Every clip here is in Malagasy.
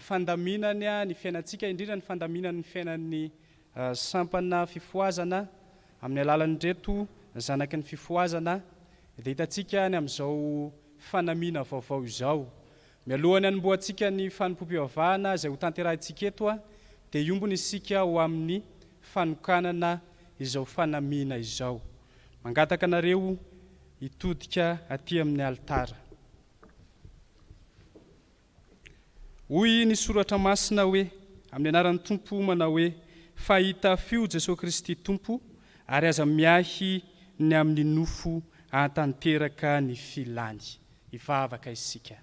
fandaminany ny fiainantsika, indrindra ny fandaminany ny fiainan'ny sampana fifohazana amin'ny alalan'ireto zanaky ny fifohazana dia hitantsika any amin'izao fanamiana vaovao izao. Mialoha ny hanombohantsika ny fanompoam-pivavahana izay hotanterahintsika eto dia hiombona isika ho amin'ny fanokanana izao fanamiana izao. Mangataka anareo hitodika aty amin'ny alitara. Hoy ny soratra masina hoe, Amin'ny anaran'ny Tompo manao hoe, Fahita f'io Jesoa Kristy Tompo, ary aza miahy ny amin'ny nofo ahatanteraka ny filany. Hivavaka isika.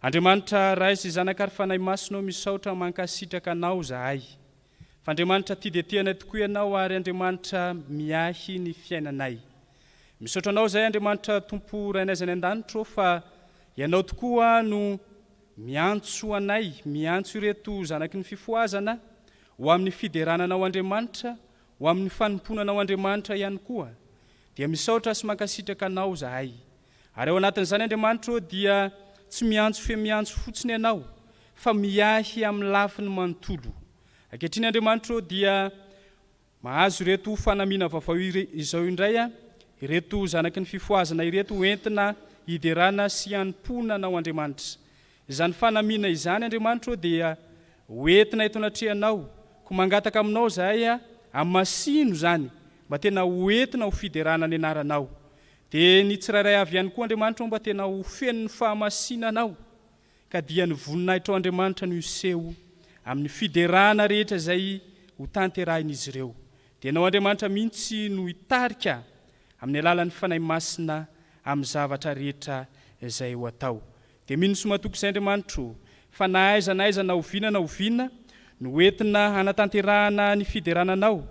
Andriamanitra Ray sy Zanaka ary Fanahy Masina ô misaotra mankasitraka Anao zahay. F'Andriamanitra tia dia tia anay tokoa Ianao ary Andriamanitra miahy ny fiainanay. Misaotra Anao izay Andriamanitra Tompo Rainay izay any an-danitra ô fa Ianao tokoa no miantso anay, miantso ireto zanaky ny fifohazana ho amin'ny fiderana Anao Andriamanitra, ho amin'ny fanompoana Anao Andriamanitra ihany koa. Dia misaotra sy mankasitraka Anao izahay. Ary ao anatin'izany Andriamanitra ô dia tsy miantso fe miantso fotsiny ianao fa miahy amin'ny lafiny manontolo. Ankehitriny Andriamanitra ô dia mahazo ireto fanamiana vaovao izao indray ireto zanaky ny fifohazana ireto ho entina hiderana sy hanompoana anao Andriamanitra. Izany fanamiana izany Andriamanitra ô dia ho entina eto anatrehanao. Koa mangataka aminao izahay amasino izany mba tena ho entina ho fiderana ny anaranao. Dia ny tsirairay avy ihany koa Andriamanitra homba tena ho feno ny fahamasinana ao, ka dia ny voninahitrao Andriamanitra no hiseho amin'ny fiderana rehetra izay ho tanterahin'izy ireo. Dia Ianao Andriamanitra mihitsy no hitarika amin'ny alalan'ny Fanahy Masina amin'ny zavatra rehetra izay ho atao. Dia mino sy matoky izay Andriamanitra o, fa na aiza na aiza na oviana na oviana no entina hanatanterahana ny fiderana Anao,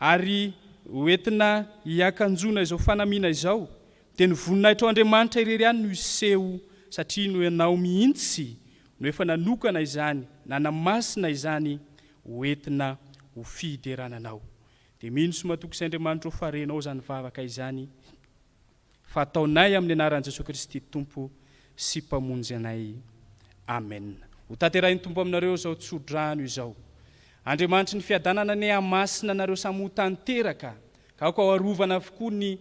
Ary hoentina hiakanjoana izao fanamiana izao, dia ny voninahitrao Andriamanitra irery ihany no hiseho, satria no Ianao mihitsy no efa nanokana izany, nanamasina izany hoentina ho fiderana Anao. Dia mino sy matoky sy Andriamanitra ho farenao izany vavaka izany. fa ataonay amin'ny anaran'i Jesoa Kristy Tompo sy Mpamonjy anay. Amena. Ho tanterahin'ny Tompo aminareo izao tsodrano izao. Andriamanitry ny fiadanana anie hamasina anareo samy ho tanteraka, ka aoka ho arovana avokoa ny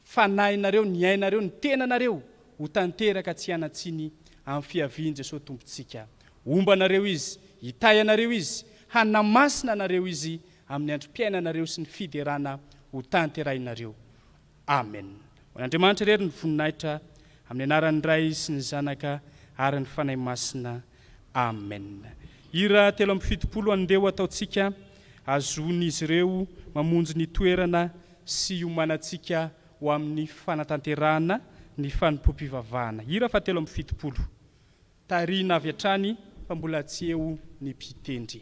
fanahinareo, ny ainareo, ny tenanareo ho tanteraka tsy hianan-tsiny amin'ny fiavian'i Jesoa Tompontsika. Homba anareo Izy, hitahy anareo Izy, hanamasina anareo Izy amin'ny androm-piainanareo sy ny fiderana ho tanterahinareo. Amen! Ho an'Andriamanitra irery ny voninahitra, amin'ny anaran'ny Ray sy ny Zanaka ary ny Fanahy Masina. Amen! Hira telo amby fitopolo Andeha ho ataontsika hazon'izy ireo mamonjy ny toerana sy hiomanantsika ho amin'ny fanatanterahana ny fanompoam-pivavahana. Hira faha telo amby fitopolo. Tarihina avy hatrany fa mbola tsy eo ny mpitendry.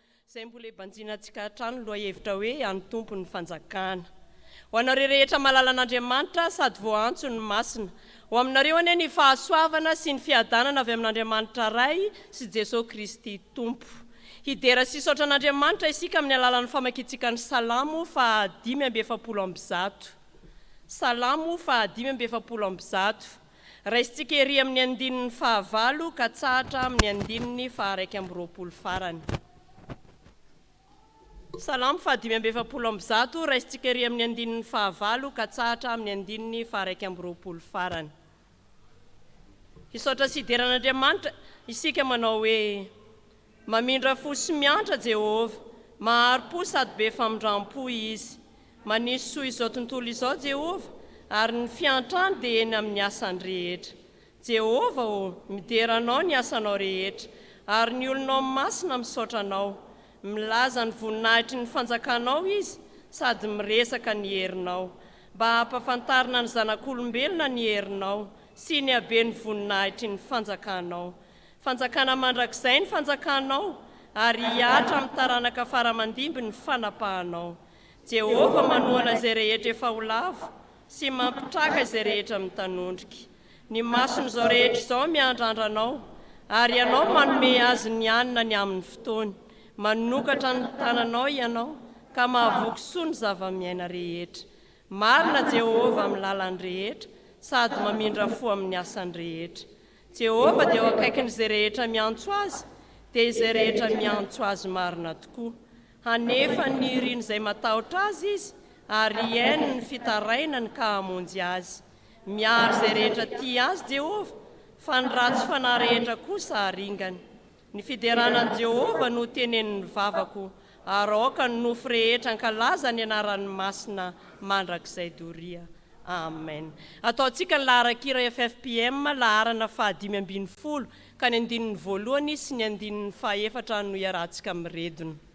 izay mbola ebanjina antsika hatrany lohahevitra hoe an'ny Tompo ny fanjakana. Ho anareo rehetra malala an'Andriamanitra sady voaantso ny masina, ho aminareo anie ny fahasoavana sy ny fiadanana avy amin'Andriamanitra Ray sy Jesoa Kristy Tompo. Hidera sy hisaotra an'Andriamanitra isika amin'ny alalan'ny famakiantsika ny Salamo faha dimy amby efapolo amby zato. Salamo faha dimy amby efapolo amby zato. Raisintsika ery amin'ny andininy fahavalo katsahatra amin'ny andininy faharaika amby roapolo farany. Salamo fahadimy amby efapolo amby zato, raisintsika ery amin'ny andininy fahavalo katsahatra amin'ny andininy faharaika amby roapolo farany. Hisaotra sy hidera an'Andriamanitra isika manao hoe, Mamindra fo sy miantra Jehovah. Mahari-po sady be famindram-po izy. Manisy soa izao tontolo izao Jehovah, ary ny fiantrany dia eny amin'ny asany rehetra. Jehovah ô, midera anao ny asanao rehetra, ary ny olonao masina misaotra anao. Milaza ny voninahitry ny fanjakanao izy, sady miresaka ny herinao, mba hampafantarina ny zanak'olombelona ny herinao sy ny haben'ny voninahitry ny fanjakanao. Fanjakana mandrakizay ny Fanjakanao, ary hihatra amin'ny taranaka fara aman-dimby ny fanapahanao. Jehovah manohana izay rehetra efa ho lavo, sy mampitraka izay rehetra mitanondrika. Ny mason'izao rehetra izao miandrandra anao, ary ianao manome azy ny hanina ny amin'ny fotoany. Manokatra ny tananao ianao, ka mahavoky soa ny zava-miaina rehetra. Marina Jehovah amin'ny lalany rehetra, sady mamindra fo amin'ny asany rehetra. Jehovah dia eo akaikin'izay rehetra miantso azy, dia izay rehetra miantso azy marina tokoa. Hanefany ny irin'izay matahotra azy izy, ary hihaino ny fitarainany ka hamonjy azy. Miaro izay rehetra tia azy Jehovah, fa ny ratsy fanahy rehetra kosa haringany. Ny fiderana an'i Jehovah no tenenin'ny vavako, ary aoka ny nofo rehetra hankalaza ny anarany masina mandrakizay doria. Amen. Ataontsika ny laharan-kira FFPM laharana fahadimy ambin'ny folo ka ny andininy voalohany sy ny andininy fahefatra no iarahantsika miredona.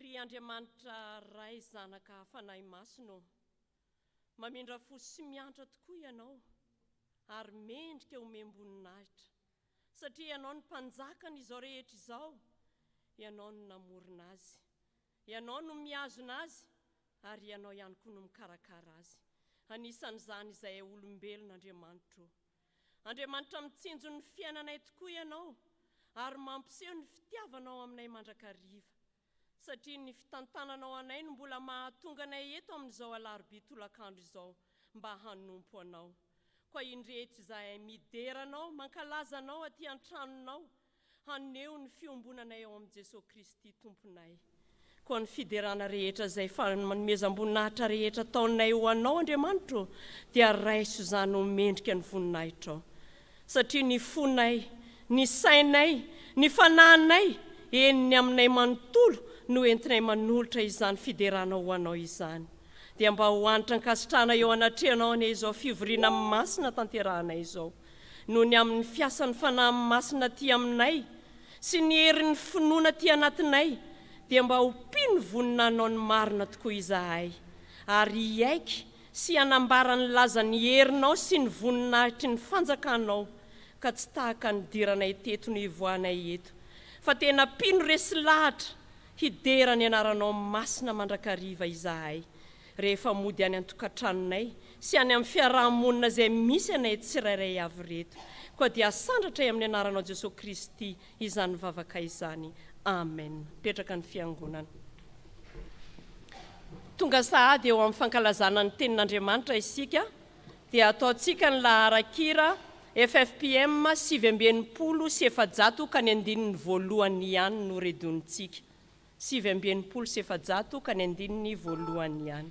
Ry Andriamanitra Ray Zanaka Fanahy Masina ô, mamindra fo sy miantra tokoa Ianao ary mendrika homem-boninahitra satria Ianao no Mpanjakan' izao rehetra izao, Ianao no namorona azy, Ianao no mihazona azy ary Ianao ihany koa no mikarakara azy, anisan' izany izahay olombelona Andriamanitra ô. Andriamanitra mitsinjo ny fiainanay tokoa Ianao ary mampiseho ny fitiavanao aminay mandrakariva, satria ny fitantananao anay no mbola mahatonga anay eto amin'izao alarobia tolakandro izao mba hanompo Anao. Koa indreto izahay midera Anao, mankalaza Anao aty an-tranonao, haneho ny fiombonanay ao amin'i Jesoa Kristy Tomponay. Koa ny fiderana rehetra izay fanomezam-boninahitra rehetra ataonay ho Anao, Andriamanitro, dia raiso izany ho mendrika ny voninahitrao. Satria ny fonay, ny sainay, ny fanahinay, eny ny aminay manontolo no entinay manolotra izany fiderana ho Anao izany. Dia mba ho hanitra ankasitrahana eo anatrehanao anie izao fivoriana masina tanterahanay izao. noho ny amin'ny fiasan'ny Fanahy Masina aty aminay sy ny herin'ny finoana aty anatinay dia mba ho mpino vonona hanao ny marina tokoa izahay ary hiaiky sy hanambara ny lazan'ny herinao sy ny voninahitry ny fanjakanao ka tsy tahaka ny diranay teto no hivoahanay eto fa tena mpino resy lahatra hidera ny anaranao masina mandrakariva izahay rehefa mody any an-tokantranonay sy any amin'ny fiaraha-monina izay misy anay tsirairay avy ireto, koa dia asandratray amin'ny anaranao Jesoa Kristy izany vavaka izany. Amen. Mipetraka ny Fiangonana. Tonga sahady eo amin'ny fankalazana ny Tenin'Andriamanitra isika, dia ataontsika ny laharan-kira FFPM sivy amby enimpolo sy efajato ka ny andininy voalohany ihany no redonitsika. Sivy amby enimpolo sy efajato ka ny andininy voalohany ihany.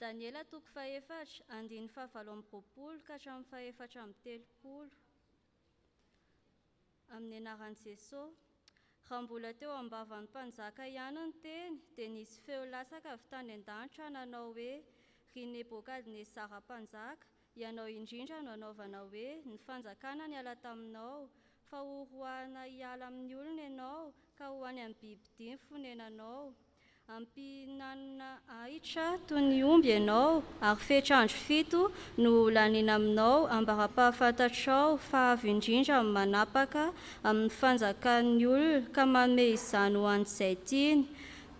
Daniela toko fahefatra, andininy fahavalo amby roapolo ka hatramin'ny fahefatra amby telopolo, Amin'ny anaran'i Jesosy. Raha mbola teo am-bavan'ny mpanjaka ihany ny teny, dia nisy feo latsaka avy tany an-danitra nanao hoe, Ry Nebokadnezara mpanjaka, Ianao indrindra no anaovana hoe ny fanjakana niala taminao, fa ho roahina hiala amin'ny olona ianao ka ho any amin'ny bibidia ny fonenanao. Hampihinanina ahitra toy ny omby ianao, ary fetra andro fito no ho laniana aminao ambara-pahafantatrao fa avy indrindra amin'ny manapaka amin'ny fanjakan'ny olona ka manome izany ho an'izay tiany.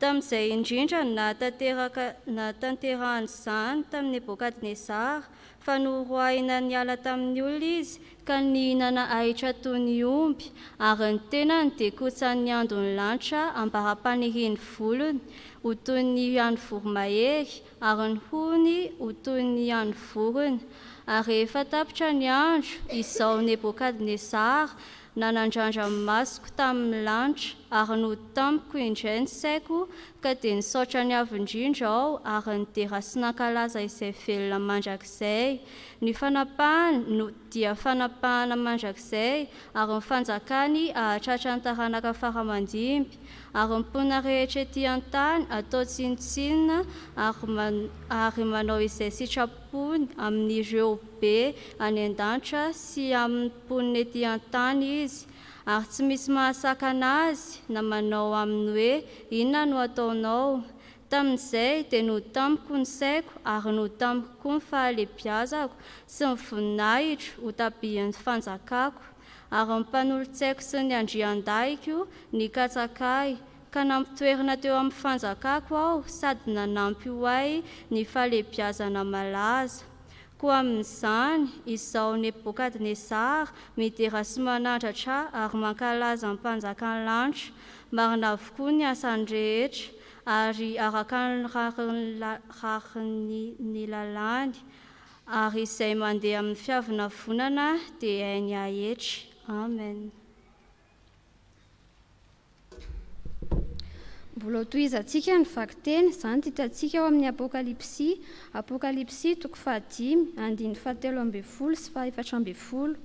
Tamin'izay indrindra no nahatanteraka nahatanterahany izany tamin'i Nebokadnezara, fa noroahina niala tamin'ny olona izy, ka nihinana ahitra toy ny omby, ary ny tenany dia kotsan'ny andon'ny lanitra ambara-panirian'ny volony ho toy ny an'ny voromahery, ary ny hohony ho toy ny an'ny vorona. Ary rehefa tapitra ny andro, izaho Nebokadnezara Nanandrandra ny masoko tamin'ny lanitra ary nody tamiko indray ny saiko ka dia nisaotra ny Avo indrindra aho ary nidera sy nankalaza izay velona mandrakizay. Ny fanapahany no dia fanapahana mandrakizay ary ny fanjakany hahatratra ny taranaka faramandimby ary ny mponina rehetra ety an-tany atao tsinontsinona ary manao izay sitrapo fo amin'ireo be any an-danitra sy amin'ny mponina ety an-tany Izy, ary tsy misy mahasakana Azy na manao Aminy hoe, Inona no ataonao? Tamin'izay dia notamiko ny saiko ary notamiko koa ny fahalebiazako sy ny voninahitro ho tabian'ny fanjakako, ary ny mpanolotsaiko sy ny andriandahiko nikatsaka Ahy, ka nampitoerina teo amin'ny fanjakako aho sady nanampy ho ahy ny fahalehibiazana malaza. Koa amin'izany, izaho Nebokadnezara midera sy manandratra ary mankalaza ny Mpanjakan'ny lanitra, marina avokoa ny asany rehetra, ary araka ny rariny lalàny, ary izay mandeha amin'ny fiavonavonana dia hainy haetry. Amen. Mbola hotohizantsika ny vakiteny, izany dia hitantsika ao amin'ny Apokalypsy, Apokalypsy toko fahadimy, andininy fahatelo ambin'ny folo sy fahefatra ambin'ny folo.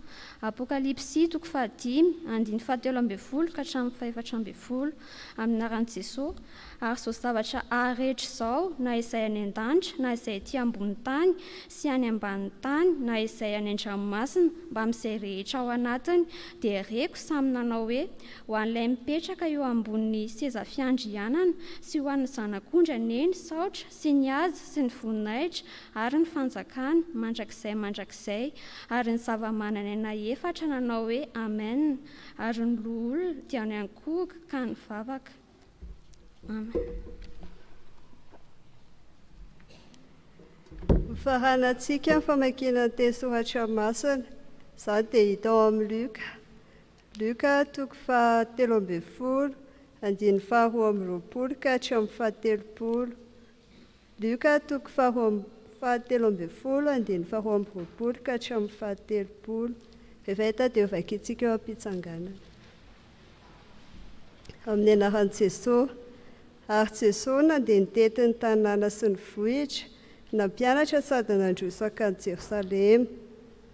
Apokalypsy toko fahadimy, andininy fahatelo ambin'ny folo ka hatramin'ny fahefatra ambin'ny folo. Amin'ny anaran'i Jesoa. Ary izao zavatra haha rehetra izao, na izay any an-danitra, na izay ety ambony tany, sy any ambanin'ny tany, na izay any an-dranomasina, mbamin'izay rehetra ao anatiny, dia reko samy nanao hoe, Ho an'ilay mipetraka eo ambonin'ny seza fiandrianana, sy ho an'ny Zanak'ondry anie ny saotra, sy ny haja, sy ny voninahitra, ary ny fanjakana, mandrakizay mandrakizay. Ary ny zava-manan'aina efatra nanao hoe, Amena. Ary ny loholona dia niankohoka ka nivavaka. Faranantsika ny famakiana ny teny soratra masina. Izany dia hita ao amin'ny Luka. Luka toko fahatelo ambin'ny folo, andininy faharoa amby roapolo ka hatramin'ny fahatelopolo. Lioka toko faharoa amby fahatelo ambin'ny folo, andininy faharoa amby roapolo ka hatramin'ny fahatelopolo. Rehefa hita dia hovakintsika eo am-pitsanganana. Amin'ny anaran'i Jesoa. Ary Jesoa nandeha nitety ny tanàna sy ny vohitra, nampianatra sady nandroso hankany Jerosalema.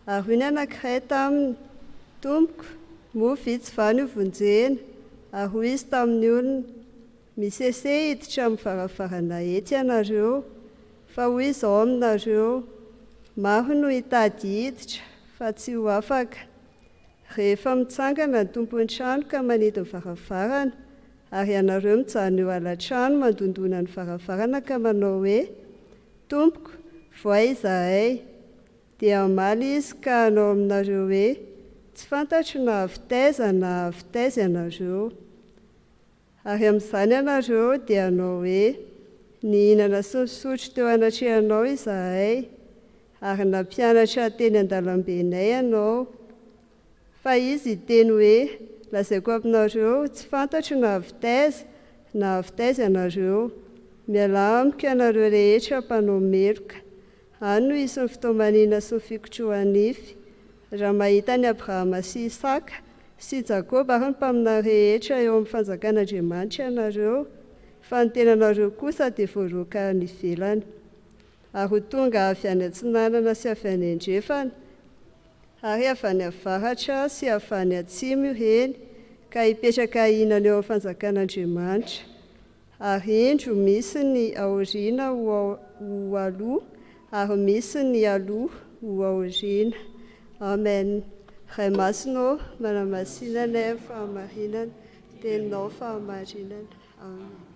Ary hoy ny anankiray taminy, Tompoko, moa vitsy va no vonjena? Ary hoy Izy tamin'ny olona, Misese hiditra amin'ny varavarana etsy ianareo, fa hoy izao aminareo, Maro no hitady hiditra, fa tsy ho afaka. Rehefa mitsangana ny tompon'ny trano ka manidy ny varavarana, ary ianareo mijanona eo ala-trano mandondona ny varavarana ka manao hoe, Tompoko, voay izahay, dia hamaly Izy ka hanao aminareo hoe, Tsy fantatro na avy taiza na avy taiza ianareo. Ary amin'izany ianareo dia hanao hoe, Nihinana sy nisotro teo anatrehanao izahay, ary nampianatra teny an-dalambenay ianao. Fa Izy hiteny hoe, Lazaiko aminareo, tsy fantatro na avy taiza na avy taiza ianareo. Mialà amiko ianareo rehetra mpanao meloka. Any no hisy ny fitaoman'ina sy ny fikotrohan'nify. Raha mahita an'i Abrahama sy Isaka sy Jakoba ary ny mpaminany rehetra eo amin'ny fanjakan'Andriamanitra ianareo, fa ny tenanareo kosa dia voaroaka any ivelany, ary ho tonga avy any atsinanana sy avy any andrefana, ary avy any avaratra sy avy any atsimo ireny, ka hipetraka hihinana eo amin'ny fanjakan'Andriamanitra. Ary indro, misy ny aoriana ho aloha, ary misy ny aloha ho aoriana. Amen. Ray Masina ô, manamasina ny fahamarinana, Teninao fahamarinana. Amen.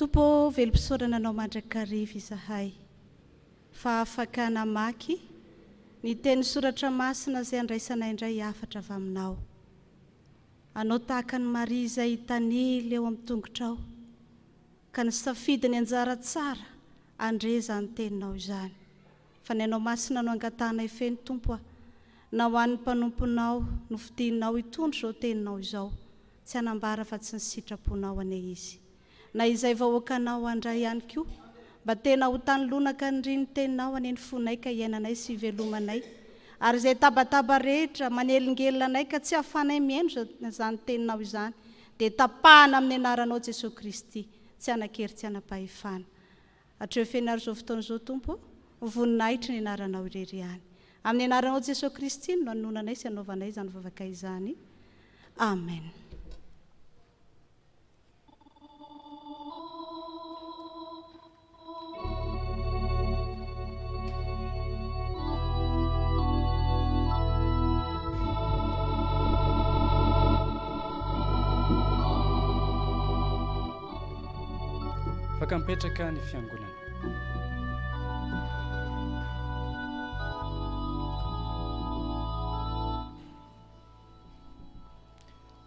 Tompo ô velom-pisaorana Anao mandrakariva izahay fa afaka namaky ny teny soratra masina izay andraisanay indray hafatra avy Aminao. Anao tahaka an'i Maria izay hitanila eo amin'ny tongotrao ka nisafidy ny anjara tsara handre izany Teninao izany. Fa ny Anao Masina no angatahanay feno, Tompo a! Na ho an'ny mpanomponao, nofidinao hitondra izao Teninao izao, tsy hanambara fa tsy ny sitraponao anie izy. Na izay vahoakanao handray ihany koa, mba tena ho tany lonaka niriny Teninao anie ny fonay ka hiainanay sy hivelomanay, ary izay tabataba rehetra manelingelina anay ka tsy ahafanay mihaino izany Teninao izany, dia tapahana amin'ny Anaranao Jesoa Kristy, tsy hanan-kery tsy hanam-pahefana. Hatreo fenaro izao fotoana izao Tompo ô, ho voninahitry ny anaranao irery ihany. Amin'ny anaranao Jesoa Kristy no nanononanay sy anaovanay izany vavaka izany. Amen. Afaka mipetraka ny fiangonana.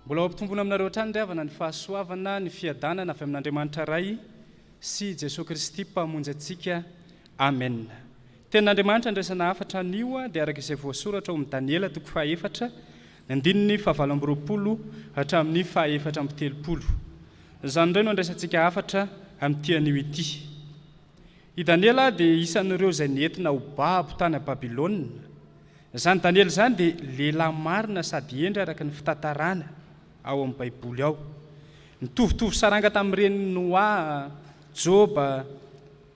Mbola ho ampitombona aminareo hatrany ry havana ny fahasoavana, ny fiadanana avy amin'Andriamanitra Ray sy Jesoa Kristy Mpamonjy antsika. Amen. Tenin'Andriamanitra andraisana hafatra anio dia araka izay voasoratra ao amin'ny Daniela toko fahaefatra, Ny andininy fahavalo amby roapolo hatramin'ny fahaefatra amby telopolo. Izany indray no andraisantsika hafatra amin'ity anio ity. I Daniela dia isan'ireo izay nentina ho babo tany Babylona. Izany Daniela izany dia lehilahy marina sady hendry araka ny fitantarana ao amin'ny Baiboly ao. Nitovitovy saranga tamin'ny renin'i Noa, Joba,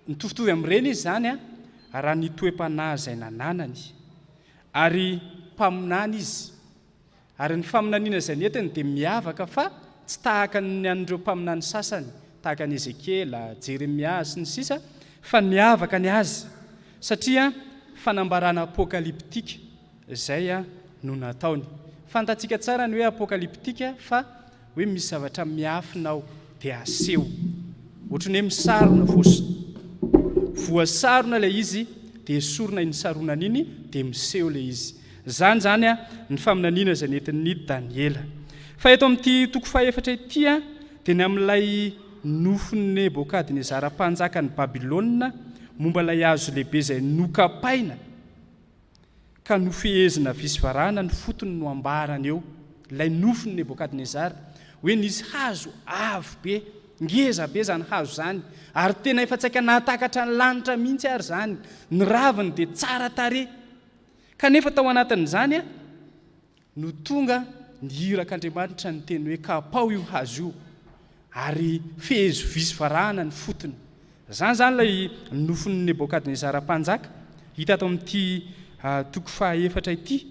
nitovitovy amin'ireny izy izany raha ny toe-panahy izay nananany. Ary mpaminany izy. Ary ny faminaniana izay nentiny dia miavaka fa tsy tahaka ny an'ireo mpaminany sasany, tahaka an'i Ezekiela, Jeremia, sy ny sisa, fa miavaka ny azy satria fanambarana apokalyptika izay no nataony. Fantatsika tsara ny hoe apokalyptika fa Hoe misy zavatra miafina ao dia aseho. Ohatran'ny hoe misarona, voasarona ilay izy dia esorina iny saronana iny dia miseho ilay izy. Izany izany ny faminaniana izay nentin'ny Daniela. Fa eto amin'ity toko fahefatra ity dia ny amin'ilay nofin'i Nebokadnezara mpanjakan'i Babylona momba ilay hazo lehibe izay nokapaina ka nofehezina visy varahana ny fotony no ambarany eo ilay nofin'i Nebokadnezara hoe nisy hazo avo be, ngeza be izany hazo izany ary tena efa tsaika nahatakatra ny lanitra mihitsy ary izany, ny raviny dia tsara tarehy. Kanefa tao anatin'izany no tonga ny irak' Andriamanitra niteny hoe, Kapaho io hazo io, ary fehezo vy sy varahana ny fotony. Izany izany ilay nofin'i Nebôkadnezara mpanjaka, hita ato amin'ity toko fahaefatra ity.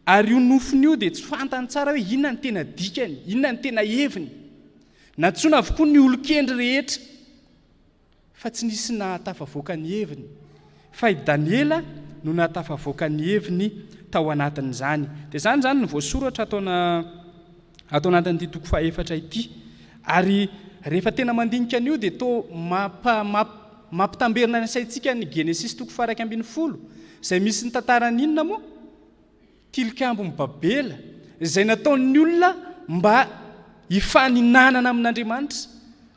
Ary io nofiny io dia tsy fantany tsara hoe inona ny tena dikany, inona ny tena heviny. Nantsoina avokoa ny olon-kendry rehetra. Fa tsy nisy nahatafavoaka ny heviny. Fa i Daniela no nahatafavoaka ny heviny tao anatin'izany. Dia izany izany no voasoratra ato ana, ato anatin'ity toko fahefatra ity. Ary rehefa tena mandinika an'io dia toa mampa, mamp, mampitamberina ny saintsika ny Genesisy toko faha iraika ambin'ny folo, izay misy ny tantaran'inona moa? Tilikambon'i Babela izay nataon'ny olona mba hifaninanana amin'Andriamanitra,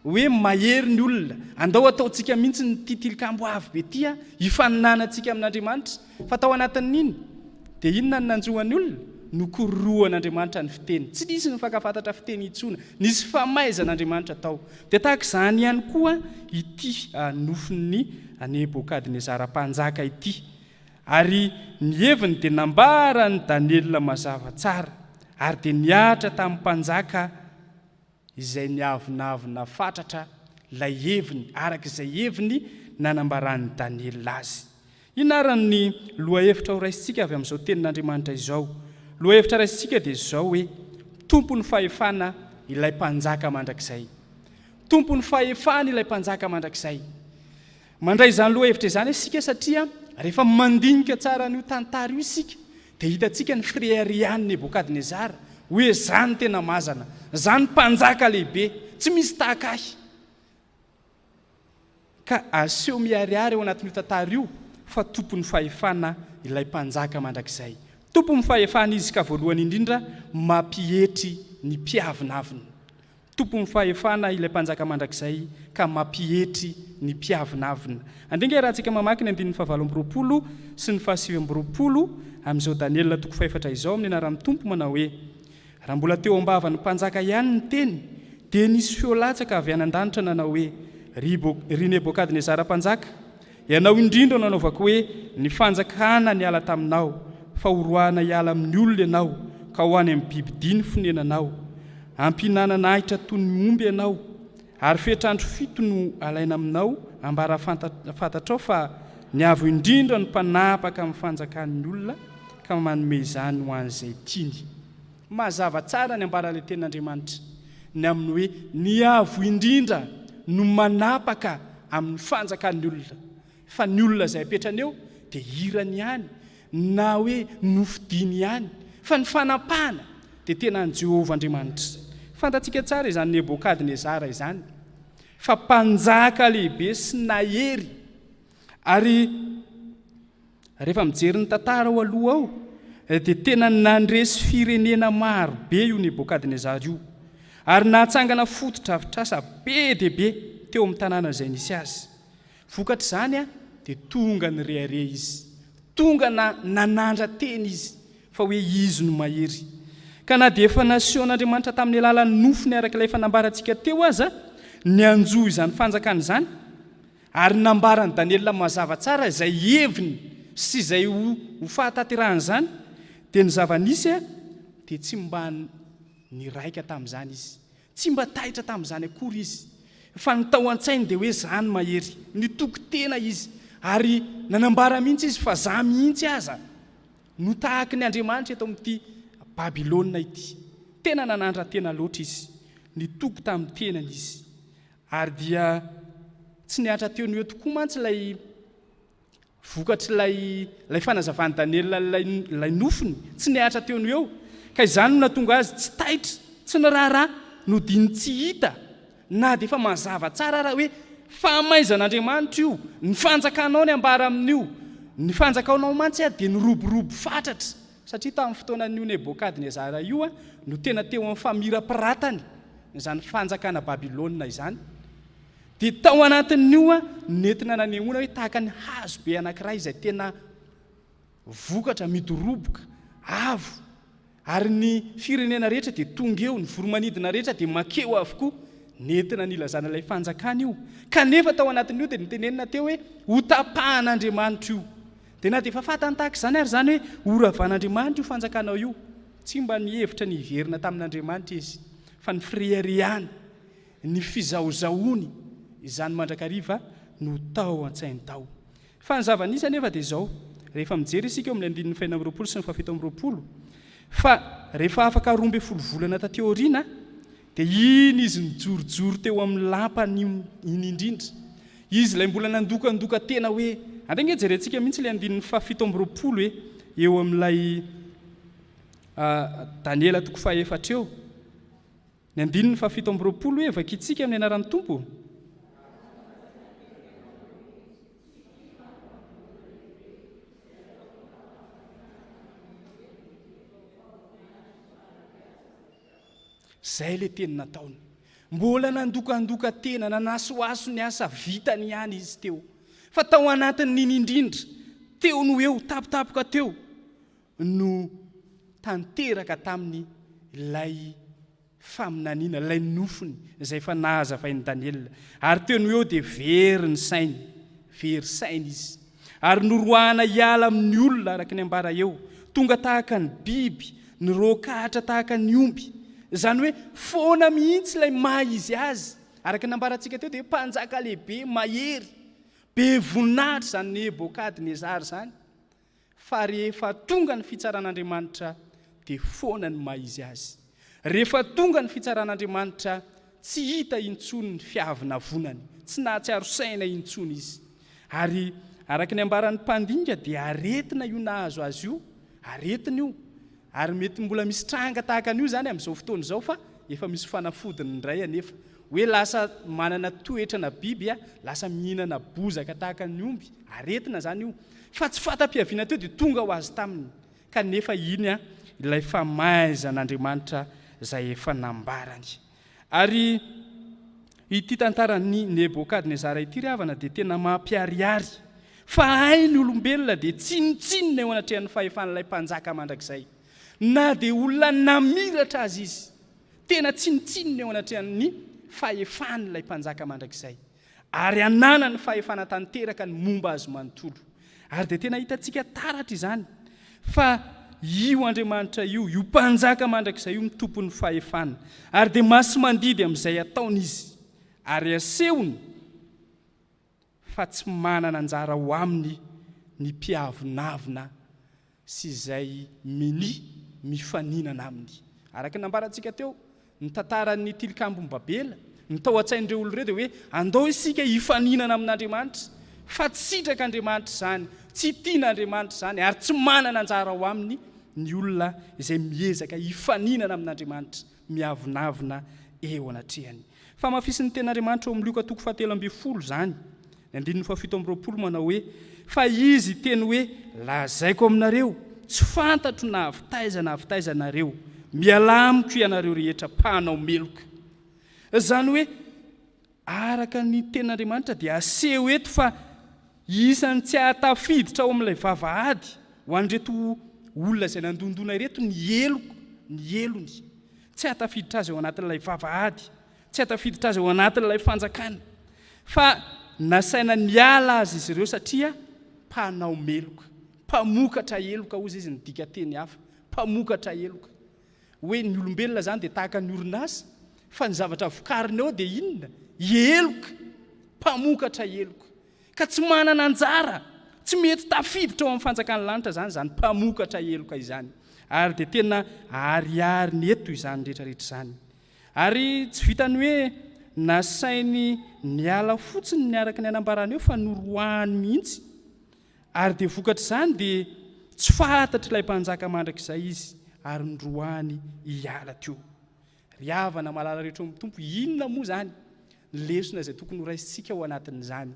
hoe mahery ny olona, andao ataontsika mihitsy ity tilikambo avo be ity hifaninanantsika amin'Andriamanitra. Fa tao anatin'iny dia inona no nanjo an'ny olona? Nokororohan'Andriamanitra ny fiteny, tsy nisy nifankafantatra fiteny intsony, nisy famaizan'Andriamanitra tao. Dia tahaka izany ihany koa ity nofin'i Nebokadnezara mpanjaka ity, Ary ny heviny dia nambara an'i Daniela mazava tsara, ary dia nihatra tamin'ny mpanjaka izay niavonavona fatratra ilay heviny, araka izay heviny nanambaran'i Daniela azy. Inona ary ny lohahevitra ho raisintsika avy amin'izao Tenin'Andriamanitra izao? Lohahevitra raisintsika dia izao hoe, Tompon'ny fahefana ilay Mpanjaka mandrakizay. Tompon'ny fahefana ilay Mpanjaka mandrakizay. Mandray izany lohahevitra izany isika satria rehefa mandinika tsara an'io tantara io isika dia hitantsika ny fireharehan'i Nebokadnezara hoe zany tena mazana, zany mpanjaka lehibe, tsy misy tahaka ahy. Ka aseho miharihary ao anatin'io tantara io fa tompon'ny fahefana ilay mpanjaka mandrakizay. Tompon'ny fahefana izy ka voalohany indrindra mampietry ny mpiavonavona. Tompon'ny fahefana ilay Mpanjaka mandrakizay ka mampietry ny mpiavonavona. Andringahy raha antsika mamaky ny andininy fahavalo amby roapolo sy ny fahasivy amby roapolo amin'izao Daniela toko fahefatra izao amin'ny anaran'ny Tompo manao hoe, Raha mbola teo am-bavan'ny mpanjaka ihany ny teny, dia nisy feo latsaka avy any an-danitra nanao hoe, Ry Nebokadnezara mpanjaka, Ianao indrindra no anaovako hoe ny fanjakana niala taminao, fa horoahana hiala amin'ny olona ianao, ka ho any amin'ny bibidia ny fonenanao. Hampihinanana ahitra toy ny omby ianao, ary fetr'andro fito no alaina aminao ambara fantatrao fa ny Avo Indrindra no mpanapaka amin'ny fanjakan'ny olona, ka manome izany ho an'izay tiany. Mazava tsara ny ambaran'ilay tenin'Andriamanitra ny amin'ny hoe ny Avo Indrindra no manapaka amin'ny fanjakan'ny olona, fa ny olona izay apetrany eo dia hirany ihany na hoe nofidiny ihany, fa ny fanapahana dia tena an'i Jehovah Andriamanitra. Fantatsika tsara izany Nebokadnezara izany fa mpanjaka lehibe sy nahery, ary. Rehefa mijery ny tantara ao aloha ao dia tena nandresy firenena maro be io Nebokadnezara io ary nahatsangana fotodrafitrasa be dia be teo amin'ny tanàna izay nisy azy. Vokatr'izany a, dia tonga nirehareha izy, tonga na nanandra teny izy fa hoe izy no mahery. Ka na dia efa nasehon'Andriamanitra tamin'ny alalan'ny nofony araka ilay efa nambarantsika teo aza ny hanjo izany fanjakana izany, Ary nambaran'i Daniela mazava tsara izay heviny sy izay ho fahatanterahan'izany, dia ny zava-nisy dia tsy mba niraika tamin'izany izy, tsy mba taitra tamin'izany akory izy, fa ny tao an-tsainy dia hoe izany mahery, nitoky tena izy, ary nanambara mihitsy izy fa za mihitsy aza no tahaky ny andriamanitra eto amin'ity Babylona ity. Tena nanandra-tena loatra izy, nitoky tamin'ny tenany izy, Ary dia tsy nihatra teo no eo tokoa mantsy ilay vokatr'ilay ilay fanazavan'i Daniela ilay ilay nofiny, tsy nihatra teo no eo, ka izany no nahatonga azy tsy taitra, tsy niraharaha, nodino tsy hita, na dia efa mazava tsara ara hoe fahamaizan'Andriamanitra io, ny fanjakanao ny ambara amin'io, ny fanjakanao mantsy ary dia niroborobo fatratra, Satria tamin'ny fotoanan'io Nebôkadnezara io no tena teo amin'ny famirapiratany izany fanjakana Babylona izany, dia tao anatin'io no nentina nanehoana hoe tahaka ny hazo be anankiray izay tena vokatra midoroboka, avo, ary ny firenena rehetra dia tonga eo, ny voromanidina rehetra dia mankeo avokoa. Nentina nilazana ilay fanjakana io. Kanefa tao anatin'io dia notenenina teo hoe hotapahan'Andriamanitra io. Dia na dia efa fantany tahaka izany ary izany hoe horavan'Andriamanitra io fanjakanao io, tsy mba nihevitra ny hiverina tamin'Andriamanitra izy, fa ny fireharehany, ny fizahozahoany izany mandrakariva no tao an-tsainy tao. Fa ny zava-nisy anefa dia izao, rehefa mijery isika eo amin'ny andininy fahenina amby roapolo sy ny fahafito amby roapolo, fa rehefa afaka roa ambin'ny folo volana taty aoriana Dia iny izy nijorojoro teo amin'ny lampany iny indrindra. Izy ilay mbola nandokandoka tena hoe, andeha ange jerentsika mihitsy ilay andininy fahafito amby roapolo e, eo amin'ilay Daniela toko fahaefatra eo. Ny andininy fahafito amby roapolo hoe, vakintsika amin'ny anaran'ny Tompo. Zay le teny nataony. Mbola nandokandoka tena, nanasohaso ny asa vitany ihany izy teo. Fa tao anatin'iny indrindra, teo no eo, tampotampoka teo, no tanteraka taminy ilay faminaniana, ilay nofiny, izay efa nahazavain'i Daniela. Ary teo no eo dia very ny sainy, very saina izy. Ary noroahana hiala amin'ny olona, araka ny ambara eo, tonga tahaka ny biby, niroakahatra tahaka ny omby. Izany hoe foana mihitsy ilay maha izy azy. Araka ny nambarantsika teo dia mpanjaka lehibe, mahery, be voninahitra izany Nebokadnezara izany. Fa rehefa tonga ny fitsaran'Andriamanitra dia foana ny maha izy azy. Rehefa tonga ny fitsaran'Andriamanitra, tsy hita intsony ny fiavonavonany, tsy nahatsiaro saina intsony izy. Ary araka ny ambaran'ny mpandinika dia aretina io nahazo azy io, aretina io, ary mety mbola misy tranga tahaka an'io izany amin'izao fotoana izao fa efa misy fanafodiny indray anefa, hoe lasa manana toetrana biby, lasa mihinana bozaka tahaka ny omby, aretina izany io, fa tsy fanta-piaviana teo dia tonga ho azy taminy Kanefa iny ilay famaizan'Andriamanitra izay efa nambarany. Ary ity tantaran'i Nebokadnezara ity ry havana dia tena mampiharihary fa hay ny olombelona dia tsinontsinona eo anatrehan'ny fahefan'ilay mpanjaka mandrakizay. Na dia olona namiratra aza izy, tena tsinontsinona eo anatrehan'ny fahefan'ilay mpanjaka mandrakizay. Ary ananany fahefana tanteraka ny momba azy manontolo. Ary dia tena hitantsika taratra izany fa io Andriamanitra io, io Mpanjaka mandrakizay io no tompon'ny fahefana. Ary dia masi-mandidy amin'izay ataony izy, ary asehony fa tsy manana anjara ao aminy ny mpiavonavona sy izay minia mifaninana aminy. Araka ny nambarantsika teo, ny tantaran'ny Tilikambon'i Babela, ny tao an-tsain'ireo olona ireo dia hoe andao isika hifaninana amin'Andriamanitra, fa tsy sitraka Andriamanitra izany, tsy tiana Andriamanitra izany ary tsy manana anjara ao aminy ny olona izay miezaka hifaninana amin'Andriamanitra. miavonavona eo anatrehany. Famafisin'ny Tenin'Andriamanitra ao amin'ny Lioka toko fahatelo ambin'ny folo izany, ny andininy fahafito amby roapolo manao hoe, Fa Izy hiteny hoe, Lazaiko aminareo, tsy fantatro na avy taiza na avy taiza ianareo, mialà amiko ianareo rehetra mpanao meloka. Izany hoe, Araka ny Tenin'Andriamanitra dia aseho eto fa isan'ny tsy hahatafiditra ao amin'ilay vavahady ho an'ireto olona izay nandondona ireto ny heloko, ny helony. Tsy hahatafiditra azy ao anatin'ilay vavahady, tsy hahatafiditra azy ao anatin'ilay fanjakana. Fa nasaina niala azy izy ireo satria mpanao meloka, mpamokatra heloka, hoy izy, ny dikanteny hafa, mpamokatra heloka. Hoe ny olombelona zany dia tahaka ny orinasa fa ny zavatra vokariny ao dia inona? Heloka, mpamokatra heloka. Ka tsy manana anjara, tsy mety tafiditra ao amin'ny fanjakan'ny lanitra zany izany mpamokatra heloka izany. Ary dia tena ariariny eto izany rehetra rehetra izany. Ary tsy vitan'ny hoe nasainy niala fotsiny ny araka ny anambarany eo fa noroahany mihitsy. Ary dia vokatr'izany dia tsy fantatr'ilay mpanjaka mandrakizay izy, ary noroahiny hiala teo. Ry havana malala rehetra ao amin'ny Tompo, inona moa izany ny lesona izay tokony horaisintsika ao anatin'izany?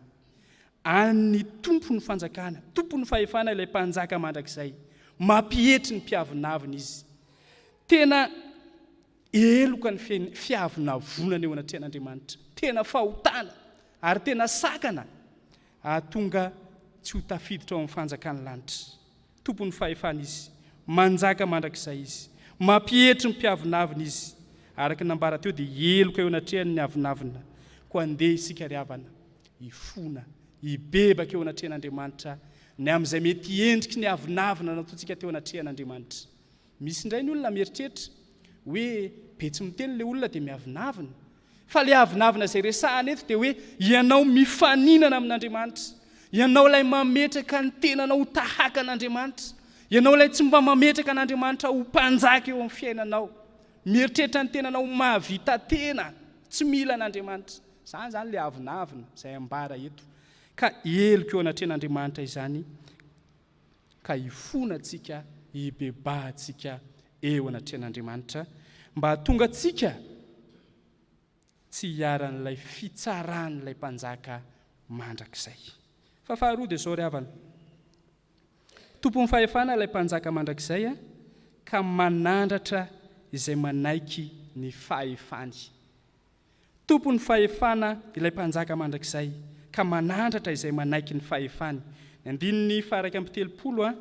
An'ny Tompo ny fanjakana, tompon'ny fahefana ilay mpanjaka mandrakizay, mampietry ny mpiavonavona izy. Tena Heloka ny fiavonavonana eo anatrehan'Andriamanitra. Tena fahotana ary tena sakana hahatonga tsy ho tafiditra ao amin'ny fanjakan'ny lanitra. Tompon'ny fahefana Izy. Manjaka mandrakizay Izy. Mampietry ny mpiavonavona Izy. Araka ny nambara teo dia heloka eo anatrehany ny avonavona. Koa andeha isika ry havana hifona, hibebaka eo anatrehan'Andriamanitra ny amin'izay mety endriky ny avonavona nataontsika teo anatrehan'Andriamanitra. Misy indray ny olona mieritreritra hoe be tsy miteny ilay olona dia miavonavona. Fa ilay avonavona izay resahana eto dia hoe ianao mifaninana amin'Andriamanitra, ianao ilay mametraka ny tenanao ho tahaka an'Andriamanitra, ianao ilay tsy mba mametraka an'Andriamanitra ho mpanjaka eo amin'ny fiainanao, mieritreritra ny tenanao ho mahavita tena, tsy mila an'Andriamanitra. Izany izany ilay avonavona izay ambara eto. Ka heloka eo anatrehan'Andriamanitra izany ka hifona antsika, hibebaha antsika eo anatrehan'Andriamanitra, mba hahatonga antsika tsy hiharan'ilay fitsaran'ilay Mpanjaka mandrakizay. Fa faharoa dia izao ry havana, tompon'ny fahefana ilay Mpanjaka mandrakizay, ka manandratra izay manaiky ny fahefany. Tompon'ny fahefana ilay Mpanjaka mandrakizay, ka manandratra izay manaiky ny fahefany. Ny andininy faharaika amby telopolo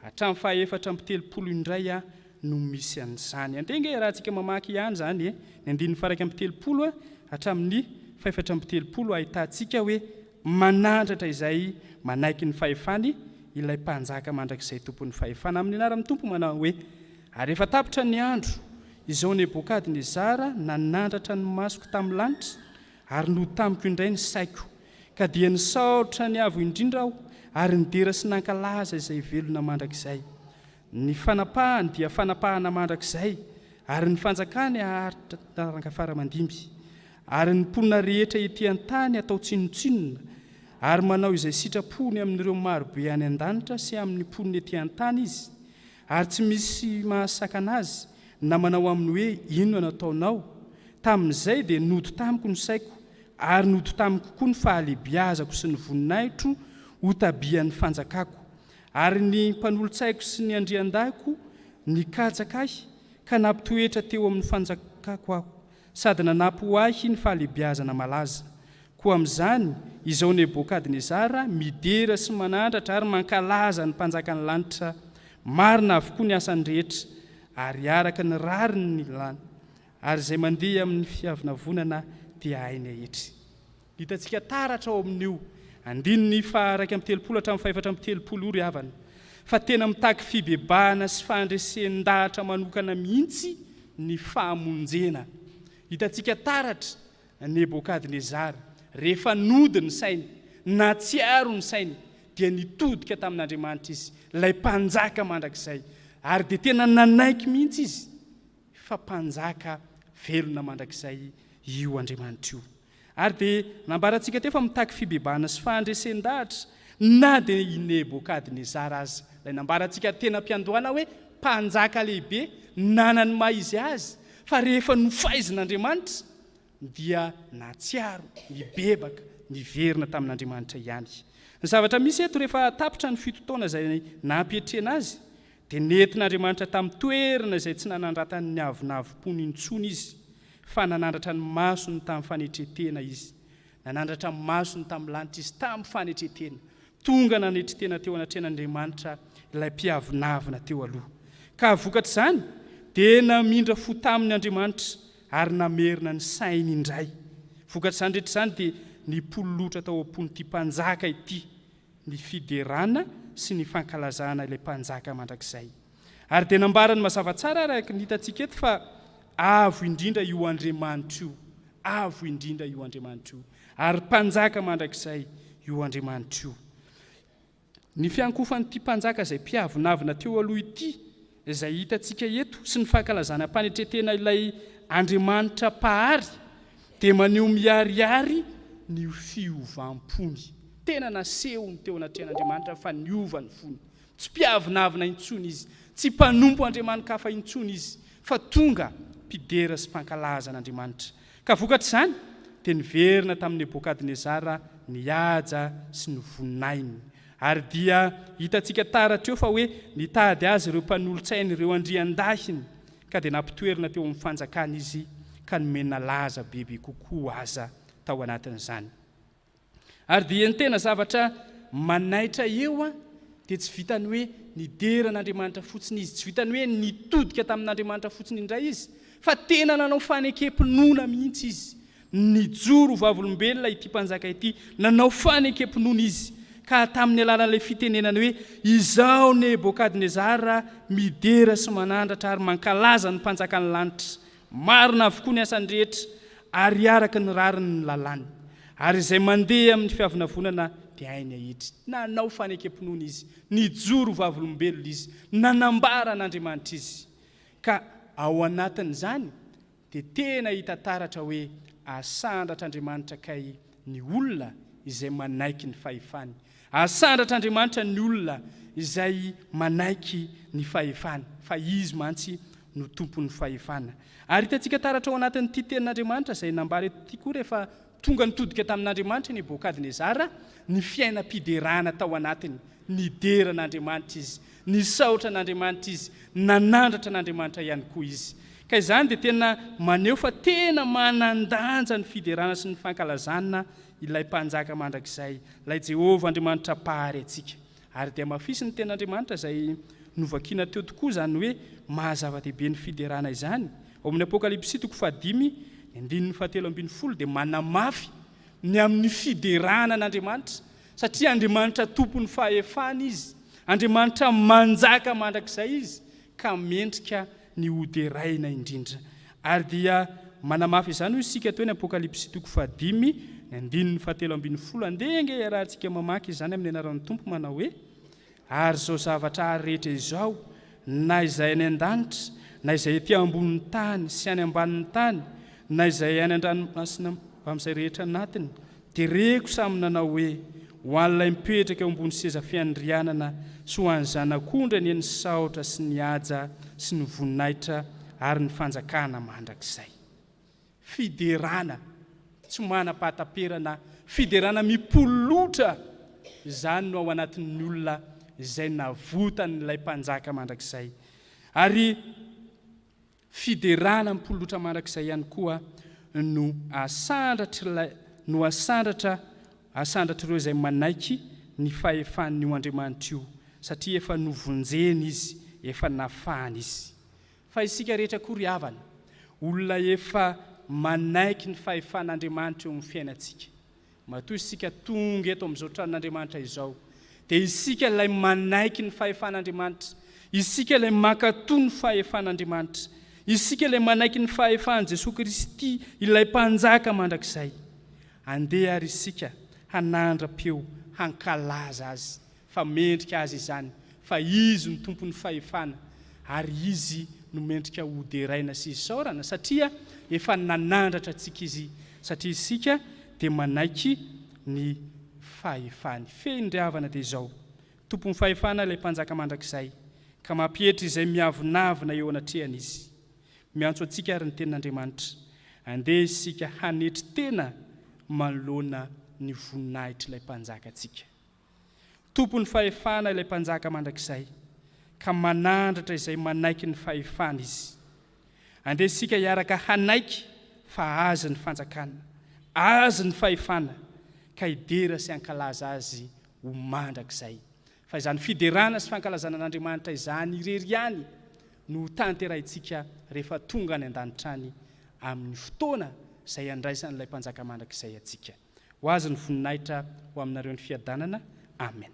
hatramin'ny fahefatra amby telopolo indray no misy an'izany. Andeha ange iarahantsika mamaky ihany izany e! Ny andininy faharaika amby telopolo hatramin'ny fahefatra amby telopolo ahitantsika hoe Manandratra izay manaiky ny fahefany ilay Mpanjaka mandrakizay Tompon'ny fahefana. Amin'ny anaran'ny Tompo manao hoe, Ary rehefa tapitra ny andro, izao Nebokadnezara nanandratra ny masoko tamin'ny lanitra, ary notamiko indray ny saiko, ka dia nisaoritra ny Avo Indrindra aho, ary nidera sy nankalaza izay velona mandrakizay. Ny fanapahany dia fanapahana mandrakizay, ary ny fanjakany haharitra taranga fara aman-dimby. Ary ny mponina rehetra ety an-tany hatao tsinontsinona, ary manao izay sitrapony amin'ireo maro be any an-danitra sy amin'ny mponina ety an-tany izy, ary tsy misy mahasakana azy na manao aminy hoe, Inona no ataonao? Tamin'izay dia nody tamiko ny saiko, ary nody tamiko koa ny fahalehibiazako sy ny voninahitro hotàbian'ny fanjakako. Ary ny mpanolotsaiko sy ny andriandahiko nikatsaka ahy ka nampitoetra teo amin'ny fanjakako aho, sady nanampy ho ahy ny fahalehibiazana malaza. Koa amin'izany, izao Nebokadnezara midera sy manandratra ary mankalaza ny Mpanjakan'ny lanitra, marina avokoa ny asany rehetra, ary araka ny rariny ny lany, ary izay mandeha amin'ny fiavonavonana dia hainy aetry. Hitantsika taratra ao amin' io andininy faha iraika amby telopolo hatramin'ny faha efatra amby telopolo io ry havana fa tena mitaky fibebahana sy fahandresen-dahatra manokana mihitsy ny fahamonjena. Hitantsika taratra Nebôkadnezara, rehefa nody ny sainy, nahatsiaro ny sainy, dia nitodika tamin' Andriamanitra izy, ilay Mpanjaka mandrakizay, ary dia tena nanaiky mihitsy izy fa Mpanjaka velona mandrakizay io Andriamanitra io. Ary dia nambarantsika teo fa mitaky fibebahana sy fahandresen-dahatra na dia i Nebokadnezara aza, ilay nambarantsika teny am-piandohana hoe mpanjaka lehibe nanana ny maha izy azy, fa rehefa nofaizin'Andriamanitra dia nahatsiaro nibebaka, niverina tamin'Andriamanitra ihany. Ny zavatra misy eto, rehefa tapitra ny fito taona izay nampiatrehana azy, Dia nentin'Andriamanitra tamin'ny toerana izay tsy nanandratany ny avonavom-pony intsony izy, fa nanandratra ny masony tamin'ny fanetren-tena izy. Nanandratra ny masony tamin'ny lanitra izy, tamin'ny fanetren-tena. Tonga nanetri-tena teo anatrehan'Andriamanitra ilay mpiavonavona teo aloha. Ka vokatr'izany, dia namindra fo taminy Andriamanitra, ary namerina ny sainy indray. Vokatr'izany rehetra izany, dia nipololotra tao am-pon'ity mpanjaka ity ny fiderana sy ny fankalazana ilay Mpanjaka mandrakizay. Ary dia nambarany mazava tsara araka ny hitantsika eto fa avo indrindra io Andriamanitra io, avo indrindra io Andriamanitra io, ary Mpanjaka mandrakizay io Andriamanitra io. Ny fiankofan'ity Mpanjaka izay mpiavonavona teo aloha ity Izay hitantsika eto sy ny fankalazana am-panetren-tena ilay Andriamanitra Mpahary dia maneho miharihary ny fiovam-pony. Tena nasehony teo anatrehan'Andriamanitra fa niova ny fony. Tsy mpiavonavona intsony izy, tsy mpanompo andriamani-kafa intsony izy, fa tonga mpidera sy mpankalaza an'Andriamanitra. Ka vokatr'izany dia niverina tamin'i Nebokadnezara nihaja sy ny voninahiny. Ary dia hitantsika taratra eo fa hoe nitady azy ireo mpanolotsainy ireo andriandahiny ka dia nampitoerina teo amin'ny fanjakany izy ka nomena laza bebe kokoa aza tao anatin'izany. Ary dia ny tena zavatra manaitra eo dia tsy vitan'ny hoe nidera an'Andriamanitra fotsiny izy, tsy vitan'ny hoe nitodika tamin'Andriamanitra fotsiny indray izy, fa tena nanao fanekempinoana mihitsy izy, Nijoro ho vavolombelona ity mpanjaka ity, nanao fanekem-pinoana izy, ka tamin'ny alalan'ilay fitenenany hoe, Izaho Nebokadnezara midera sy manandratra ary mankalaza ny Mpanjakan'ny lanitra. Marina avokoa ny asany rehetra, ary araka ny rariny ny lalàny. Ary izay mandeha amin'ny fiavonavonana dia hainy ahitsy. Nanao fanekem-pinoana izy, nijoro ho vavolombelona izy, nanambara an'Andriamanitra izy. Ka ao anatin'izany, dia tena hita taratra hoe asandratr'Andriamanitra kay ny olona izay manaiky ny fahefany. Asandratr'Andriamanitra ny olona izay manaiky ny fahefany, fa Izy mantsy no Tompon'ny fahefana. Ary hitantsika taratra ao anatin'ity tenin'Andriamanitra izay nambara eto ity koa rehefa Tonga nitodika tamin'Andriamanitra Nebokadnezara ny fiainam-piderana tao anatiny. Nidera an'Andriamanitra izy, nisaotra an'Andriamanitra izy, nanandratra an'Andriamanitra ihany koa izy. Ka izany dia tena maneho fa tena manan-danja ny fiderana sy ny fankalazana ilay Mpanjaka mandrakizay, ilay Jehovah Andriamanitra Mpahary antsika. Ary dia mafisy ny tenin'Andriamanitra izay novakina teo tokoa izany hoe maha zava-dehibe ny fiderana izany. Ao amin'ny Apokalypsy toko fahadimy, ny andininy fahatelo ambin'ny folo dia manamafy ny amin'ny fiderana an'Andriamanitra, satria Andriamanitra tompon'ny fahefana Izy, Andriamanitra manjaka mandrakizay Izy, ka mendrika ny ho deraina indrindra. Ary dia manamafy izany hoy isika teo ny Apokalypsy toko fahadimy, ny andininy fahatelo ambin'ny folo. Andeha ange hiarahantsika mamaky izany amin'ny anaran'ny Tompo manao hoe, Ary izao zavatra ary rehetra izao, na izay any an-danitra, na izay ety ambonin'ny tany sy any ambanin'ny tany, na izay any an-dranomasina mbamin'izay rehetra anatiny, Dia reko samy nanao hoe, Ho an'ilay mipetraka eo ambony seza fiandrianana sy ho an'ny Zanak'ondry anie ny saotra sy ny haja sy ny voninahitra ary ny fanjakana mandrakizay. Fiderana tsy manam-pahataperana, fiderana mipololotra, izany no ao anatin'ny olona izay navotan'ilay Mpanjaka mandrakizay. Ary. Fiderana am-polotra mandrakizay ihany koa no asandratr'ilay no asandratra asandratr'ireo izay manaiky ny fahefan'io Andriamanitra io, satria efa novonjeny Izy, efa nafahany Izy. Fa isika rehetra koa ry havana, olona efa manaiky ny fahefan'Andriamanitra eo amin'ny fiainantsika. Matoa isika tonga eto amin'izao tranon'Andriamanitra izao, dia isika ilay manaiky ny fahefan'Andriamanitra, isika ilay mankatò ny fahefan'Andriamanitra, isika ilay manaiky ny fahefan'i Jesoa Kristy, ilay Mpanjaka mandrakizay. Andeha àry isika hanandra-peo hankalaza Azy fa mendrika azy izany, fa Izy no Tompon'ny fahefana, ary Izy no mendrika ho deraina sy isaorana, satria efa nanandratra antsika Izy, satria isika dia manaiky ny fahefany. Fehiny ry havana dia izao, Tompon'ny fahefana ilay Mpanjaka mandrakizay, ka mampietry izay miavonavona eo anatrehany Izy. Miantso antsika àry ny Tenin'Andriamanitra, Andeha isika hanetry tena manoloana ny voninahitr'ilay Mpanjaka antsika. Tompon'ny fahefana ilay Mpanjaka mandrakizay, ka manandratra izay manaiky ny fahefany Izy. Andeha isika hiaraka hanaiky fa Azy ny fanjakana, Azy ny fahefana, ka hidera sy hankalaza Azy ho mandrakizay. Fa izany fiderana sy fankalazana an'Andriamanitra izany irery ihany no ho tanterahintsika rehefa tonga any an-danitra any, amin'ny fotoana izay handraisan'ilay Mpanjaka mandrakizay antsika. Ho azy ny voninahitra ho aminareo ny fiadanana. Amen.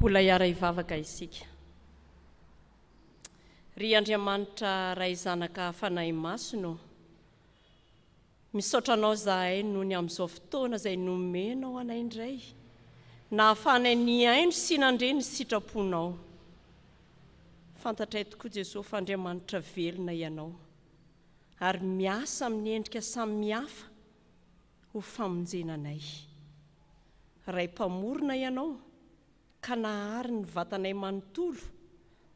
Mbola hiara-hivavaka isika. Ry Andriamanitra Ray Zanaka Fanahy Masina ô, misaotra Anao zahay nony amin'izao fotoana izay nomenao anay indray nahafahanay nihaino sy nandre ny sitraponao. Fantatray tokoa Jesoa fa Andriamanitra velona Ianao ary miasa amin'ny endrika samihafa ho famonjena anay. Ray Mpamorona Ianao, ka nahary ny vatanay manontolo,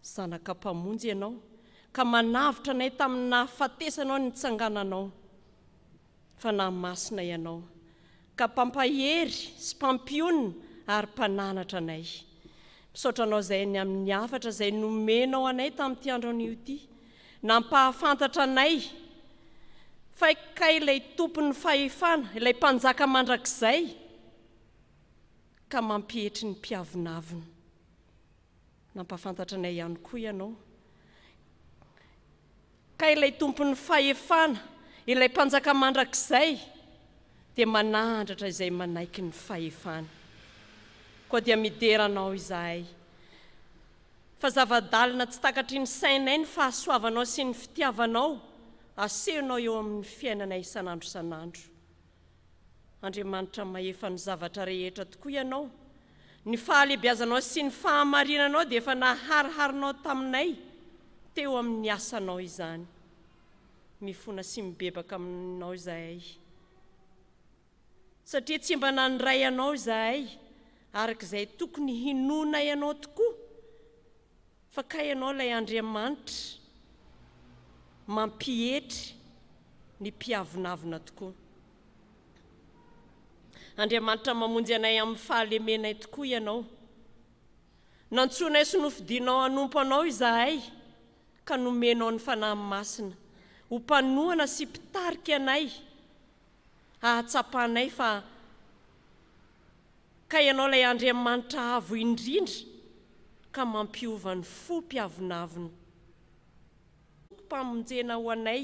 Zanaka Mpamonjy Ianao, ka manavotra anay tamin'ny nahafatesanao ny nitsangananao. Fanahy Masina Ianao, ka Mpampahery sy Mpampionona ary Mpananatra anay. Misaotra Anao izay ny amin'ny hafatra izay nomenao anay tamin'ity andro anio ity, nampahafantatra anay fa kay ilay Tompon'ny Fahefana, ilay Mpanjaka Mandrakizay, ka mampietry ny mpiavonavona. Nampahafantatra anay ihany koa ianao ka ilay Tompon'ny fahefana, ilay Mpanjaka mandrakizay dia manahandratra izay manaiky ny fahefany. Koa dia midera anao izahay fa zava-dalina tsy takatry ny sainay ny fahasoavanao sy ny fitiavanao asehonao eo amin'ny fiainanay isan'andro isan'andro. Andriamanitra mahefa ny zavatra rehetra tokoa Ianao. Ny fahalehibiazanao sy ny fahamarinanao dia efa nahariharinao taminay teo amin'ny asanao izany. Mifona sy mibebaka aminao izahay, satria tsy mba nandray Anao izahay araka izay tokony hinoanay Anao tokoa. Fa kay ianao ilay Andriamanitra mampietry ny mpiavonavona tokoa. Andriamanitra mamonjy anay amin'ny fahalemenay tokoa ianao. Nantsoinay sy nofidinao hanompo anao izahay ka nomenao ny Fanahy Masina ho mpanohana sy mpitarika anay hahatsapanay fa Ka Ianao ilay Andriamanitra Avo Indrindra ka mampiova ny fo mpiavonavona. Tokim-pamonjena ho anay.